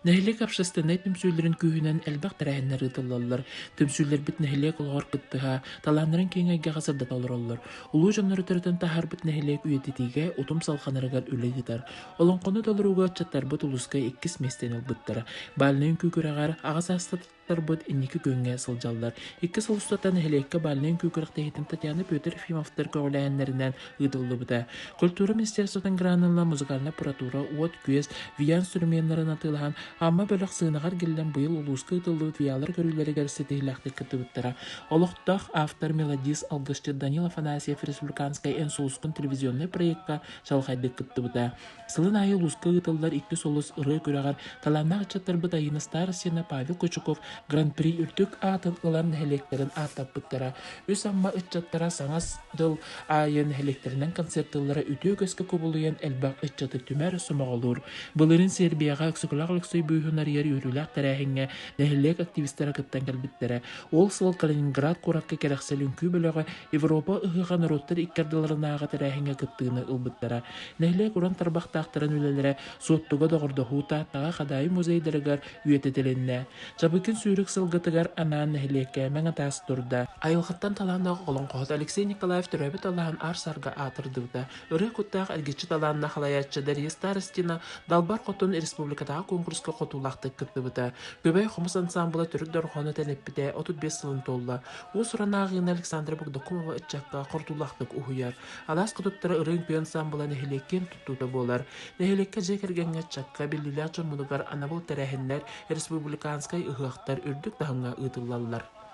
Нэһилиэк общественнай түмсүүлэрин күүһүнэн элбэх тэрээһиннэр ыытыллаллар. Түмсүүлэрбит нэһилиэк олоҕор кыттыһа, талааннарын киэҥ эйгэҕэ сырдата олороллор. Улуу дьоннору төрөтөн таһаарбыт нэһилиэк үйэтитиигэ утум салҕанарыгар үлэ ыытар. Олоҥхону толорууга ыччаттарбыт улууска иккис миэстэни ылбыттара. Бальнай үҥкүү күрэҕэр аҕа саастата Аттарбыт инники күҥҥэ сылдьаллар. Икки сыл устата нэһилиэккэ бальнай үҥкүү күрэхтэһиитин Татьяна Петр Ефимовтар көҕүлээһиннэринэн ыытыллыбыта. Культура министерствотын гранынан музыкальнай аппаратура, уот-күөс, виа инструменнарын атыылаһан, Амма бөлөх сыанаҕар киллэн быйыл улууска ыытыллыбыт виалар көрүүлэригэр ситиһиилээхтик кыттыбыттара. Олохтоох автор-мелодист, алгысчыт Данил Афанасьев республиканскай эн сулускун телевизионнай проекка чаҕылхайдык кыттыбыта. Сылын аайы улууска ыытыллар иккис олус ырыа күрэҕэр талааннаах ыччаттарбыт Айыына Старостина, Павел Кочуков Гран-при үрдүк аатын ылан нэһилиэктэрин ааттаппыттара. Үс Амма ыччаттара саҥа дыл аайы нэһилиэктэринэн концертыыллара үтүө өскө кубулуйан элбэх ыччаты түмэр, сомоҕолуур. Былырыын Сербияҕа Өксөкүлээх Өлөксөй бүүһүн арыйар үөрүүлээх тэрээһиҥҥэ нэһилиэк активистара кыттан кэлбиттэрэ. Ол сыл Калининград куоракка кэрэхсэл үҥкүү бөлөҕө Европа ыһыаҕа норуоттар икки ардыларынааҕы тэрээһиҥҥэ кыттыыны ылбыттара. Нэһилиэк уран тарбахтаахтарын үлэлэрэ Суоттуга доҕордоһуу Тааттаҕа Хадаайы музейдарыгар үйэтитилиннэ. Чабыкин сүүрүк сылгытыгар анаан нэһилиэккэ мэҥэ таас турда. Айылҕаттан талааннаах оҕолоҥхоһут Алексей Николаев төрөөбүт аллаһын аар-саарга аатырдыбыта. Ырыа куттаах эргиччи талааннаах салайааччы Дария Старостина Далбар Хотун республикатааҕы куонкуруска хотуулаахтык кыттыбыта. Күбэй хомус ансаамбыла Төрүт дорҕоону тэниппитэ отут биэс сылын туолла. Уус-уран ааҕыыны Александра Богдакова ыччакка хордуулаахтык уһуйар. Алаас хотуттара ырыа үҥкүү ансаамбыла нэһилиэккин туттуута буолар. Нэһилиэккэ дьиэ кэргэҥҥэ, ыччакка, биллиилээх дьоммутугар анабыл тэрээһиннэр, республиканскай ыһыахтар үрдүк таһымҥа ыытыллаллар.